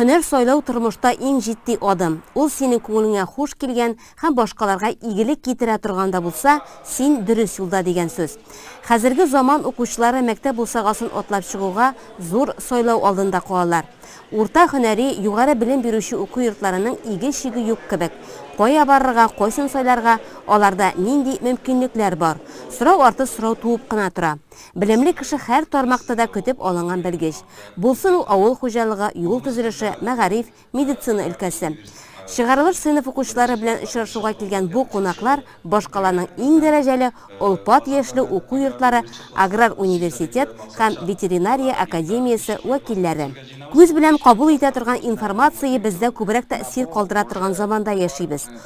Һөнәр сайлау тормышта иң җитди адым. Ул синең күңелеңә хуш килгән һәм башкаларга игелек китерә торган да булса, син дөрес юлда дигән сүз. Хәзерге заман укучылары мәктәп бусагасын атлап чыгуга зур сайлау алдында калалар. Урта һөнәри, югары белем бирүче уку йортларының иге-чиге юк кебек. Кая барырга, кайсын сайларга, аларда нинди мөмкинлекләр бар? Сорау арты сорау туып кына тора. Белемле кеше һәр тармакта да көтеп алынган белгеч. Булсын ул авыл хуҗалыгы, юл төзелеше, мәгариф, медицина өлкәсе. Чыгарылыш сыйныф укучылары белән очрашуга килгән бу кунаклар башкаланың иң дәрәҗәле олпат яшьле уку йортлары, аграр университет һәм ветеринария академиясе вәкилләре. Күз белән кабул итә торган информация бездә күбрәк тәэсир калдыра торган заманда яшибез.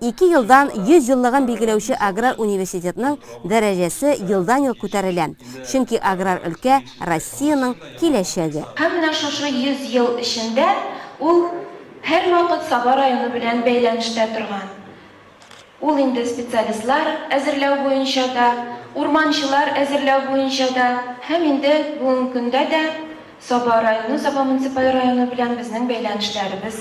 Ике елдан 100 еллыгын билгеләүче аграр университетның дәрәҗәсе елдан-ел күтәрелә, чөнки аграр өлкә, Россиянең киләчәге. Һәм менә шушы 100 ел эчендә ул һәрвакыт Саба районы белән бәйләнештә торган. Ул инде специалистлар әзерләү буенча да, урманчылар әзерләү буенча да һәм инде бүгенге көндә дә Саба районы, Саба муниципаль районы белән безнең бәйләнешләребез,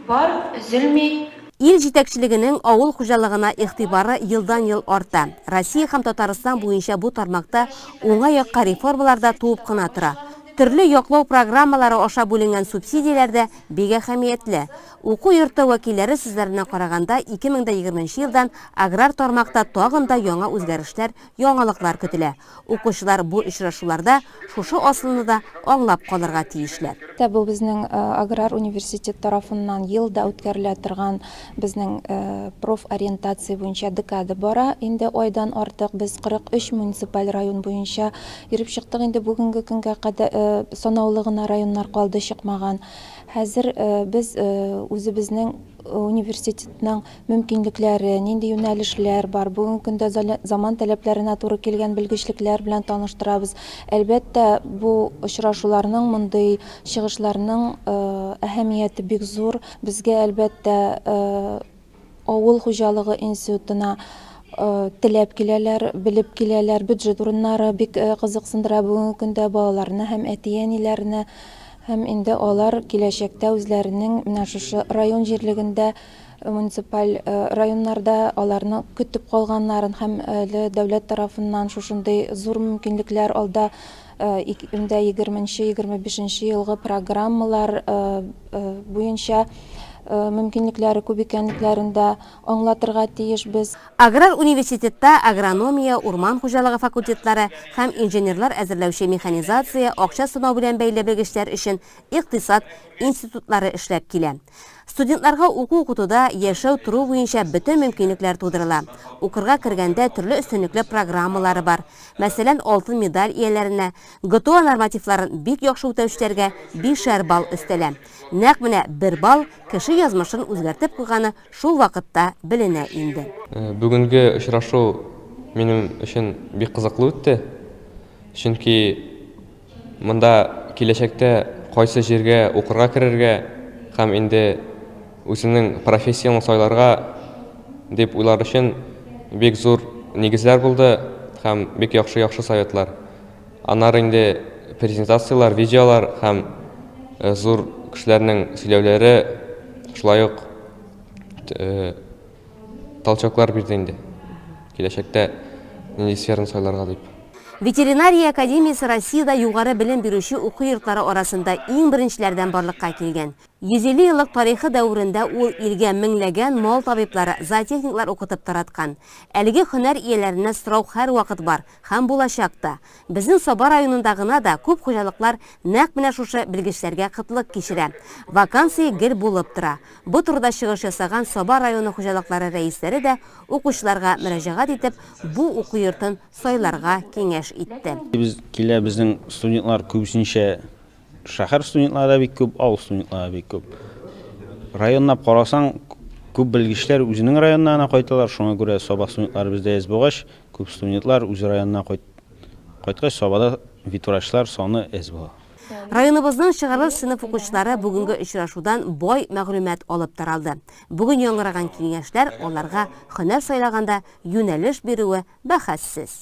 Бар, өзелми. Ил җитәкчелегенең авыл хуҗалыгына игътибары елдан-ел арта. Россия һәм Татарстан буенча бу тармакта уңай якка реформалар да туып кына тора. Төрле яклау программалары аша бүленгән субсидияләр дә бик әһәмиятле. Уку йорты вәкилләре сүзләренә караганда, 2020 нче елдан аграр тармакта тагын да яңа үзгәрешләр, яңалыклар көтелә. Укучылар бу очрашуларда шушы асылны да аңлап калырга тиешләр. Дә бу безнең аграр университет тарафыннан ел да үткәрелә торган безнең профориентация буенча декада бара. Инде айдан артык без 43 муниципаль район буенча йөреп чыктык. Инде бүгенге көнгә кадә санаулы гына районнар калды чыкмаган. Хәзер без үзебезнең университетның мөмкинлекләре, нинди юнәлешләр бар, бүгенге көндә заман таләпләренә туры килгән белгечлекләр белән таныштырабыз. Әлбәттә, бу очрашуларның, мондый чыгышларның әһәмияте бик зур. Безгә, әлбәттә, авыл хуҗалыгы институтына теләп киләләр, белеп киләләр. Бюджет урыннары бик кызыксындыра бүгенге көндә балаларны һәм әти-әниләрне. Һәм инде алар киләчәктә үзләренең менә шушы район җирлегендә муниципаль районнарда аларны көтеп калганнарын һәм әле дәүләт тарафыннан шушындый зур мөмкинлекләр алда инде егерменче егерме бишенче елгы программалар буенча мөмкинлекләре күп икәнлекләрен дә аңлатырга тиешбез. Аграр университетта агрономия, урман хуҗалыгы факультетлары һәм инженерлар әзерләүче механизация, акча сынау белән бәйле белгечләр өчен икътисад институтлары эшләп килә. Студентларга уку-укытуда яшәү-тору буенча бөтен мөмкинлекләр тудырыла. Укырга кергәндә төрле өстенлекле программалары бар. Мәсәлән, алтын медаль ияләренә, ГТО нормативларын бик яхшы үтәүчеләргә бишәр балл өстәлә. Нәкъ менә бер балл кеше язмышын үзгәртеп куйганы шул вакытта беленә инде. Бүгенге очрашу минем өчен бик кызыклы үтте, чөнки. Монда киләчәктә кайсы җиргә укырга керергә һәм инде үзеңнең профессияңне сайларга дип уйлар өчен бик зур нигезләр булды һәм бик яхшы-яхшы советлар. Аннары инде презентацияләр, видеолар һәм зур кешеләрнең сөйләүләре, шулай ук талчоклар бирде инде, киләчәктә нинди сфераны сайларга дип. Ветеринария академиясе Россиядә югары белем бирүче уку йортлары арасында иң беренчеләрдән барлыкка килгән. 150 еллык тарихы дәверендә ул илгә меңләгән мал табиблары, зоотехниклар укытып тараткан. Әлеге һөнәр ияләренә сорау һәрвакыт бар. Һәм булачак та. Безнең Саба районында гына да күп хуҗалыклар нәкъ менә шушы белгечләргә кытлык кичерә. Вакансия гел булып тора. Бу турыда чыгыш ясаган Саба районы хуҗалыклары рәисләре дә укучыларга мөрәҗәгать итеп, бу уку йортын сайларга киңәш итте. Без килә, безнең студентлар күбесенчә Шәһәр студентлары да бик күп, авыл студентлары да бик күп. Районлап карасаң, күп белгечләр үзенең районына гына кайталар, шуңа күрә Саба студентлары бездә әз булгач, күп студентлар үз районына кайт, кайткач Сабада ветврачлар саны әз була. Районыбызның чыгарылыш сыйныф укучылары бүгенге очрашудан бай мәгълүмат алып таралды. Бүген яңгыраган киңәшләр аларга һөнәр сайлаганда юнәлеш бирүе бәхәссез.